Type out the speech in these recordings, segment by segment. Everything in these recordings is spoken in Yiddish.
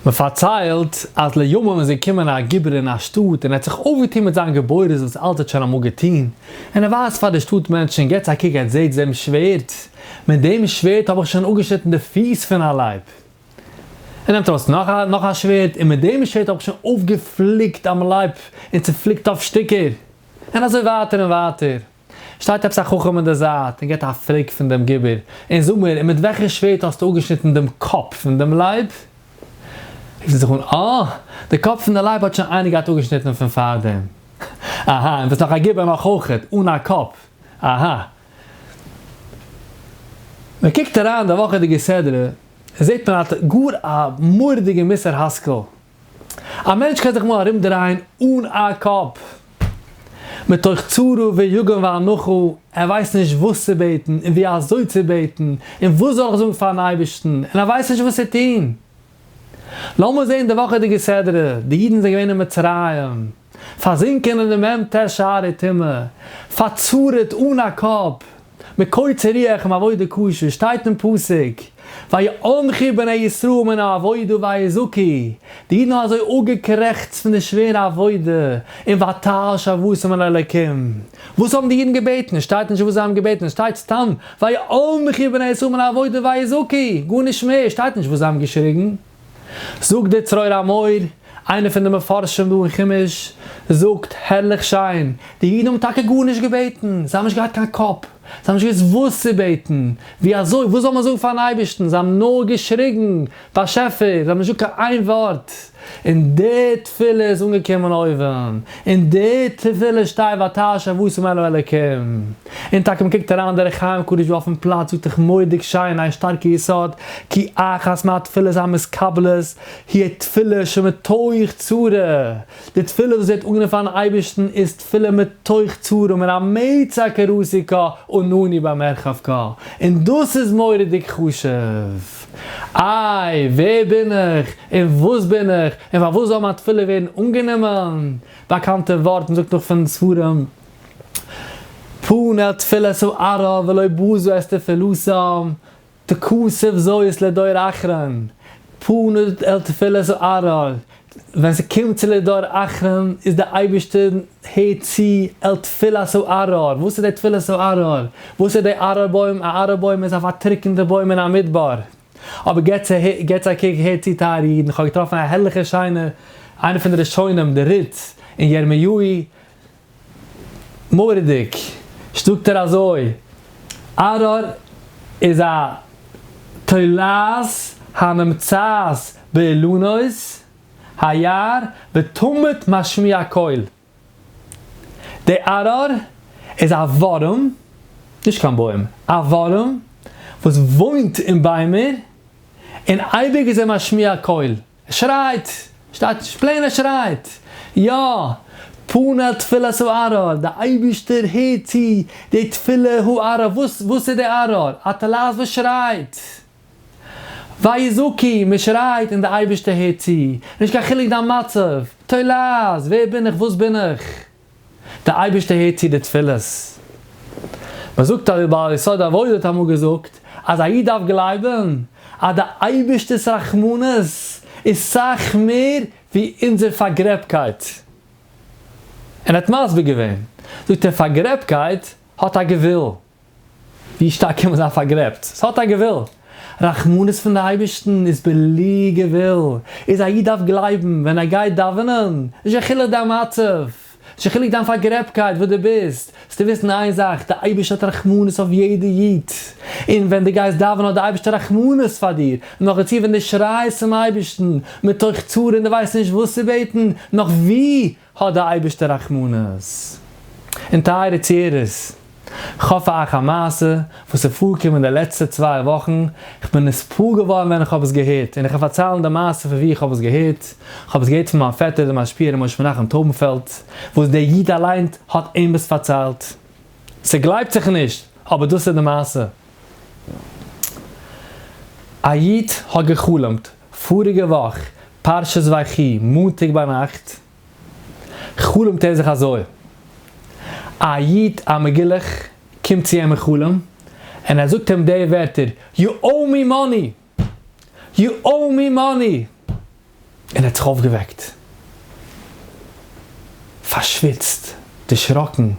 מען פארציילט אז לימים איז געקומען א גיבור אין א שטאט און ער האט זיך אויפגעטון מיט זיין גבורות וואס אלץ האט שוין אמאל געטון, און ער ווייזט פאר די שטאט מענטשן, געטס א קוק, עטס זעטס דעם שווערד? מיט דעם שווערד האב איך שוין אפגעשניטן די פיס פון א לייב. ער נעמט ארויס נאך א נאך א שווערד, און מיט דעם שווערד האב איך שוין אויפגעפליקט דעם לייב און צופליקט אויף שטיקער. און אזוי ווייטער און ווייטער. שטייט עפעס א חכם אין די זייט און געט א פרעג פון דעם גיבור, און זאג מיר, און מיט וועלכע שווערד האסטו אפגעשניטן דעם קאפ פון דעם לייב? רופט ער זיך אן, אה! די קאפ פון די לייב האט שוין איינער געהאט אפגעשניטן פון פארדעם. אהא, און ביסט נאך א גיבור נאך אויכעט, אן א קאפ. אהא. מען קוקט אריין די וואכעדיגע סדרה, זעט מען א גאר א מורא'דיגע מוסר השכל. א מענטש קען זיך מאל ארום דרייען אן א קאפ, מתוך צרה ויגון ואנחה, ער ווייסט נישט וואס צו בעטן און ווי אזוי צו בעטן, און וואס זאל איך זאגן פארן אייבערשטן, און ער ווייסט נישט וואס צו טון. לאמיר זען די וואכעדיגע סדרה, די אידן זענען געווען אין מצרים. פארזינקען אין דעם ם ט שערי טומאה, פארצורה'ט אן א קאפ, מיט קוצר רוח און עבודה קשה, שטייט אין פסוק, ויאנחו בני ישראל מן העבודה ויזעקו, די אידן האבן אזוי אפגעקרעכצט פון די שווערע עבודה, און ותעל שבותם אל אלקים, וואס האבן די אידן געבעטן? עס שטייט נישט וואס זיי האבן געבעטן, עס שטייט סתם ויאנחו בני ישראל מן העבודה ויזעקו, גארנישט מער, עס שטייט נישט וואס זיי האבן געשריגן. זאגט דער צרור המאור, איינער פון די מפרשים דא אין חומש, זאגט, הערליך שיין, די אידן האבן טאקע גארנישט געבעטן, זיי האבן נישט געהאט קיין קאפ, זיי האבן נישט געוואוסט וואס צו בעטן, ווי אזוי, וואס זאל מען זאגן פארן אייבערשטן, זיי האבן נאר געשריגן, באשעפער, זיי האבן נישט געזאגט קיין איין ווארט, און די תפילה איז אנגעקומען אויבן, און די תפילה שטיי ואתה ה' ואשים אלו אלוקים. און טאקע מען קוקט אריין אין דרך חיים קדוש וואו אויפן פלאץ זאגט איך מורא'דיג שיין איין שטארקע יסוד כי אחת מהתפילות המתקבלות היא תפילה שמתוך צרה, די תפילה וואס ווערט אנגענומען פארן אייבערשטן איז תפילה מתוך צרה מן המצא כרסי כה ונוני במרחב כה, און דאס איז מורא'דיג חשוב, איי ווער בין איך און וואס בין איך און פארוואס זאל מיין תפילה ווערן אנגענומען, באקאנטע ווארט מען זאגט נאך פון ספרים. פנה תפלה סוערה ולא בוזו אסתר פלוסם תכוסף זוית לדור אחרון, פנה אל תפלה סוערה, ווען ס'קומט צו לדור אחרון איז די אייבערשטער הערט צו אל תפלה סוערה, וואס איז די תפלה סוערה? וואס איז די ארור בוים? א ארור בוים איז א פארטריקענטע בוים אין א מדבר, אבער געטס א קוק הערט צו טייערע אידן איך האב געטראפן א הערליכע שיינע איינע פון די ראשונים די ריץ אין ירמיהו מורא'דיג! זאגט ער אזוי, ארור איז א תולעת הנמצאת באילנות היער ותמיד משמיע קול. די ארור איז א ווארעם, נישט קיין בוים, א ווארעם וואס וואוינט אין ביימער, און אייביג איז ער משמיע קול. ער שרייט! שטייט נישט פלעין ער שרייט! יא! פנה תפילת הערר, די אייבישטער הערט צו די תפילה הערר, וואס וואס איז די ערר? א טלית וואס שרייט! וויי זקי, מען שרייט און די אייבישטער הערט צו, נישט קיין חילוק דיין מצב, טוילעז, ווער בין איך, וואס בין איך? דער אייבערשטער הערט צו די תפילות. מען זאגט אויף די בעל יסוד עבודה האט אמאל געזאגט אז א איד דארף גלייבן אז די אייבערשטער'ס רחמנות איז סאך מער ווי אונזער פארגרעבקייט. און ער האט מסביר געווען, זאגט ער, פארגרעבקייט האט א גבול, ווי שטארק קען מען זיין פארגרעבט? ס'האט א גבול. רחמנות פון די אייבערשטן איז בלי גבול. איז א איד דארף גלייבן ווען ער גייט דאווענען, נישט קיין חילוק דיין מצב, נישט קיין חילוק דיין פארגרעבטקייט וואס דו ביסט, זאלסטו וויסן איין זאך, די אייבערשטער האט רחמנות אויף יעדע איד. און ווען דו גייסט דאווענען האט די אייבערשטער רחמנות פאר דיר. נאך דערצו ווען דו שרייסט צום אייבערשטן מתוך צרה און דו ווייסט נישט וואס צו בעטן, נאך ווי האט די אייבערשטער רחמנות און טייערע צוערערס, כ'האף אייך א מעשה וואס איז פארגקומען די לעצטע צוויי וואכן, כ'בין נספּעל געווארן ווען כ'האב עס געהערט, און איך וועל פארציילן די מעשה פון וואו כ'האב עס געהערט, כ'האב עס געהערט פון מיין פעטער דער משפיע ר' משה מנחם טויבנפעלד, וואס דער איד אליין האט אים עס פארציילט. ס'גלייבט זיך נישט, אבער דאס איז די מעשה. א איד האט גע'חלומ'ט פאריגע וואך, פרשת ויחי, מאנטאג ביינאכט, חלומ'ט ער זיך אזוי, א איד א מגולח קומט צו אים אין חלום, און ער זאגט אים די ווערטער, יו אוי מי מאני! יו אוי מי מאני! און ער האט זיך אויפגעוועקט. פארשוויצט, דערשראקן,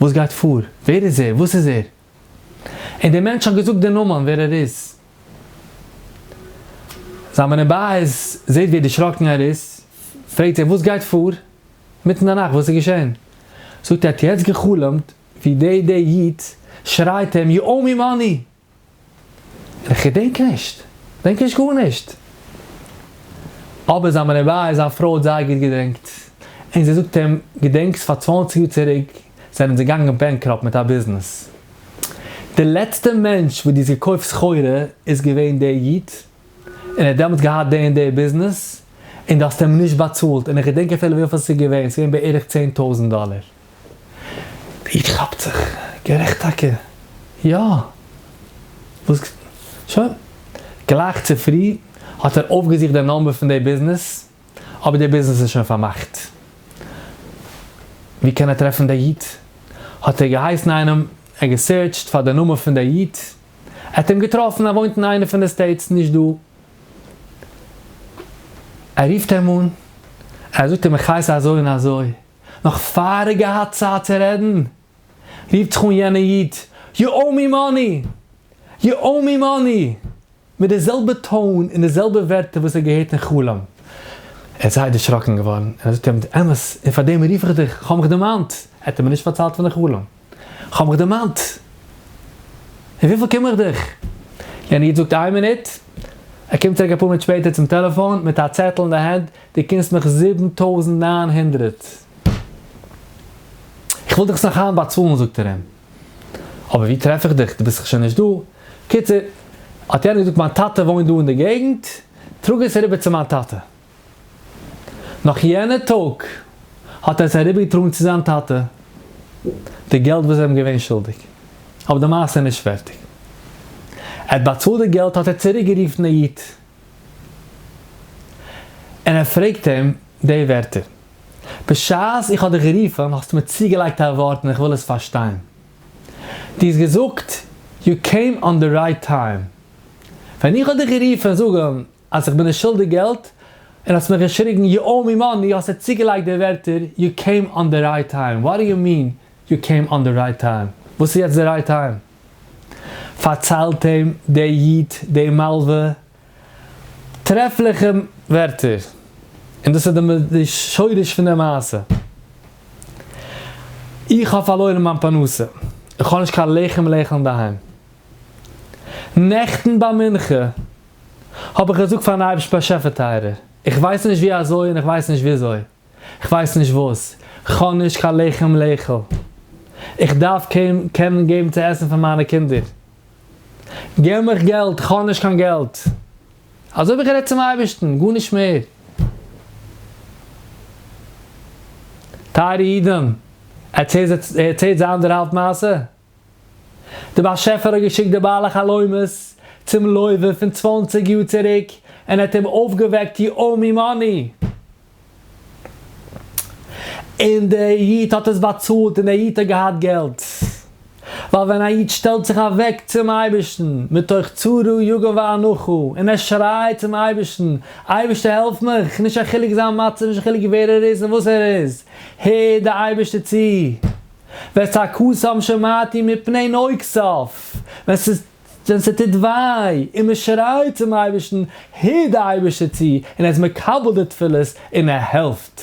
וואס גייט פאר? ווער איז ער? וואס איז ער? און דער מענטש האט געזאגט די נאמען ווער ער איז. זיין בני בית זעהט ווי דערשראקן ער איז, פרעגט ער וואס גייט פאר? מיטן די נאכט וואס איז געשען? זאגט ער ער האט יעצט גע'חלומ'ט ווי די די איד שרייט אים יו אוי מי מאני! איך געדענק נישט, געדענק נישט גארנישט. אבער זיין בני בית, זיין פרוי האט זייער גוט געדענקט, און זי זאגט אים, געדענקסט פאר צוואנציג יאר צוריק זענען זיי געגאנגען בענקראפט מיט א ביזנעס. די לעצטע מענטש וואס דו האסט געקויפט סחורה איז געווען דער איד, און ער האט דעמאלטס געהאט די און די ביזנעס, און דו האסט אים נישט באצאלט, און איך געדענק אפילו וויפיל ס'איז געווען, ס'איז געווען בערך צען טויזנט דאלער. איד כאפט זיך, גערעכט טאקע, יא, וואס, שוין, גלייך צופרי האט ער אויפגעזוכט די נאמבער פון די ביזנעס, אבער די ביזנעס איז שוין פארמאכט, ווי קען ער טרעפן די איד? האט ער געהייסן איינעם, ער האט געסערטשט פאר די נאמען פון די איד, ער האט אים געטראפן, ער וואוינט אין איינע פון די סטעיטס נישט דא, ער רופט אים אן, ער זאגט אים איך הייס אזוי און אזוי. נאך פאר ער האט געהאט צייט צו רעדן, רופט זיך אן יענער איד, יו אוי מי מאני! יו אוי מי מאני! מיט די זעלבע טאון און די זעלבע ווערטער וואס ער האט געהערט אין חלום. ער איז זייער דערשראקן געווארן און ער זאגט אים, אמת, און פאר דעם רוף איך דיך, כ'האב מיך דערמאנט, ער האט אים נישט פארציילט פון די חלום. כ'האב מיך דערמאנט. אין וויפיל קום איך דיך? יענער איד זאגט איין מינוט. ער קומט צוריק אפאר מינוט שפעטער צום טעלעפאן מיט א צעטל אין די הענט, דו קומסט מיך זיבן טויזנט נײַן הונדערט. איך וויל דיך עס נאך היינט באצאלן זאגט ער אים. אבער ווי טרעף איך דיך? דו ביסט דאך שוין נישט דא. קיצור, האט יענער געזאגט מיין טאטע וואוינט דא אין די געגנט, טראג עס אריבער צו מיין טאטע. נאך יענע טאג האט ער עס אריבערגעטראגן צו זיין טאטע, די געלט וואס זיי האבן געווען שולדיג, אבער די מעשה איז נישט פערטיג. ער האט באצאלט די געלט האט ער צוריקגערופן די איד, און ער פרעגט אים די ווערטער, בשעת איך האב דיך גערופן האסטו מיר צוגעלייגט א ווארט און איך וויל עס פארשטיין. דו האסט געזאגט, יו קעים אן די רייט טיים. ווען איך האב דיך גערופן זאגן. אז איך בין נישט שולדיג געלט, און האסט מיך געשריגן יו אוי מי מאני, האסטו צוגעלייגט די ווערטער יו קעים אן די רייט טיים, וואט די יו מין יו קעים אן די רייט טיים? וואס איז יעצט די רייט טיים? פארציילט אים דער איד די מלווה טרעפליכע ווערטער, און דאס איז די שורש פון די מעשה, איך האב פארלוירן מיין פרנסה, איך האב נישט קיין לחם לאכול אינדערהיים, נעכטן ביי מנחה, האב איך געזאגט פארן אייבערשטן באשעפער טייערער, איך ווייס נישט ווי אזוי און איך ווייס נישט וויאזוי, איך ווייס נישט וואס, כ'האב נישט קיין לחם לאכול, איך דארף קעם קענען געבן צו עסן פאר מיינע קינדער, געב מיך געלט, איך האב נישט קיין געלט, אזוי האב איך גערעדט צום אייבערשטן, גארנישט מער. טייערע אידן, ערצעהט זיי די אנדערהאלב מעשה. דער באשעפער האט געשיקט די בעלי חלומות צום לוי פון צוואנציג יאר צוריק און ער האט אים אויפגעוועקט יאור מימוני, און דער איד האט עס באצאלט און דער איד האט געהאט געלט, ווייל ווען א איד שטעלט זיך אוועק צום אייבערשטן מתוך צרה יגון ואנחה און ער שרייט צום אייבערשטן, אייבערשטער העלף מיך, נישט א חילוק זיין מצב, נישט א חילוק ווער ער איז און וואס ער איז, הערט דער אייבערשטער צו. ותקוסם שמעתי מפני נוקסיו, ווען ס'איז ווען ס'טוט וויי און מ'שרייט צום אייבערשטן הערט די אייבערשטער צו און ער איז מקבל די תפילות און ער העלפט.